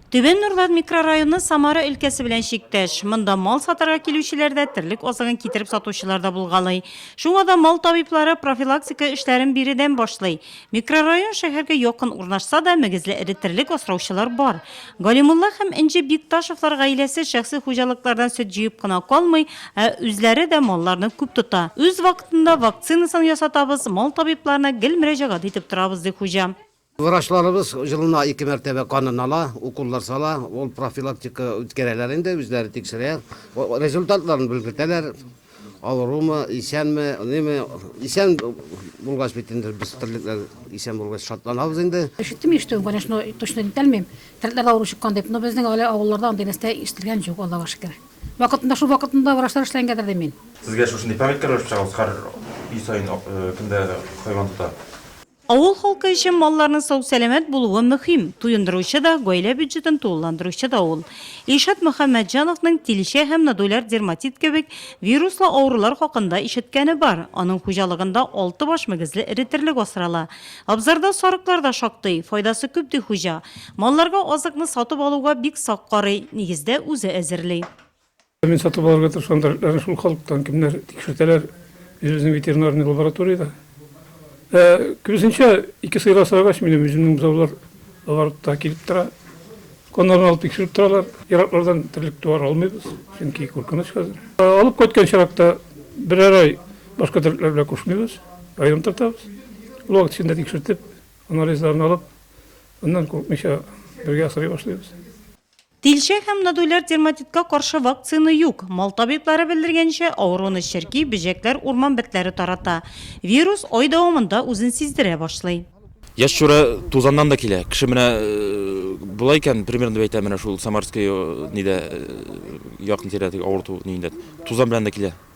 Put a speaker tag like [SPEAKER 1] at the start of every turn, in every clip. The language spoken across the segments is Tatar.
[SPEAKER 1] Түбән Нурлат микрорайоны Самара өлкәсе белән чиктәш. Монда мал сатарга килүчеләр дә, терлек азыгын китереп сатучылар да булгалый. Шуңа да мал табиблары профилактика эшләрен биредән башлый. Микрорайон шәһәргә якын урнашса да, мөгезле эре терлек асраучылар бар. Галимулла һәм Энҗе Бикташевлар гаиләсе шәхси хуҗалыклардан сөт җыеп кына калмый, ә үзләре дә малларны күп тота. Үз вакытында вакцинасын ясатабыз, мал табибларына гел мөрәҗәгать итеп торабыз, ди хуҗа. Врачларыбыз
[SPEAKER 2] елына ике мәртәбә канын ала, уколлар сала, ул профилактика үткәрәләр инде, үзләре тикшерә, результатларын белгертәләр, авырумы, исәнме, ниме, исән булгач бит инде без терлекләр исән булгач шатланабыз инде. Ишеттем ишетүен, конечно,
[SPEAKER 3] точно әйтә алмыйм, терлекләрдә авыру чыккан дип, но безнең әле авылларда андый нәрсә ишетелгән юк, Аллага шөкер. Вакытында, шул вакытында врачлар эшләнгәндер дим мин. Сезгә шушындый памятка
[SPEAKER 4] рәвеш-чыгабыз, һәр өй саен кемдә хайван тота? Авыл халкы
[SPEAKER 1] өчен малларның сау-сәламәт булуы мөһим, туендыручы да, гаилә бюджетын тулыландыручы да ул. Илшат Мөхәммәтҗановның тилчә һәм нодуляр дерматит кебек вируслы авырулар хакында ишеткәне бар. Аның хуҗалыгында алты баш мөгезле эретерлек асрала. Абзарда сарыклар да шактый. Файдасы күп, ди хуҗа. Малларга азыкны сатып алуга бик сак карый, нигездә, үзе әзерли. Мин сатып
[SPEAKER 5] алырга тырышкан дәретләрне шул халыктан кемнәр тикшертәләр, үзебезнең ветеринарный лабораториядә. Ә, күбесенчә, ике сыйра асрагач, минем үземнең бозаулар оборотта килеп тора. Каннарын алып тикшереп торалар. Ераклардан терлек туар алмыйбыз, чөнки куркыныч хәзер. Алып кайткан чиракта берәр ай башка дәретләр белән кушмыйбыз, аерым тотабыз. Ул вакыт эчендә тикшертеп, анализларын алып, аннан курыкмыйча бергә асрый башлыйбыз. Тилчә
[SPEAKER 1] һәм нодуляр дерматитка каршы вакцина юк. Мал табиблары белдергәнчә, авыруны черки, бөҗәкләр, урман бетләре тарата. Вирус ай дәвамында үзен сиздерә башлый. Яшь чүрә
[SPEAKER 6] тузаннан да килә. Кеше менә болай икән, примерно дип әйтәм, менә шул Самарское нидә якын тирәдәге авырту ниендә тузан белән дә килә.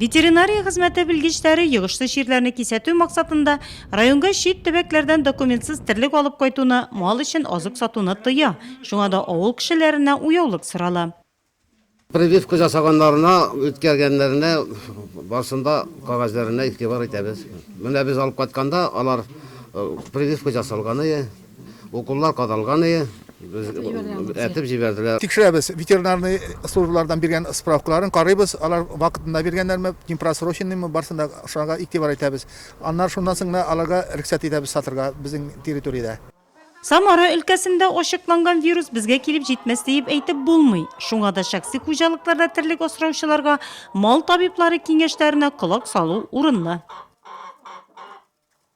[SPEAKER 7] Ветеринария
[SPEAKER 1] хезмәте белгечләре йогышлы чирләрне кисәтү максатында районга чит төбәкләрдән документсыз терлек алып кайтуны, мал өчен азык сатуны тыя. Шуңа да авыл кешеләренә уяулык сорала. Прививка
[SPEAKER 2] жасаганнарына, үткәргәннәренә барсын да кәгазьләренә игътибар итәбез. Менә без алып кайтканда, алар прививка жасалганы. Уколлар кадалганые этеп җибәрделәр. Тикшерәбез,
[SPEAKER 8] ветеринарный службалардан биргән справкаларын карыйбыз, алар вакытында биргәннәрме, непросроченныймы, барсына да шуңарга игътибар итәбез. Аннары шуннан соң гына аларга рөхсәт итәбез сатырга безнең территориядә. Самара
[SPEAKER 1] өлкәсендә ачыкланган вирус безгә килеп җитмәс диеп әйтеп булмый. Шуңа да шәхси хуҗалыкларда терлек асраучыларга мал табиблары киңәшләренә колак салу урынлы.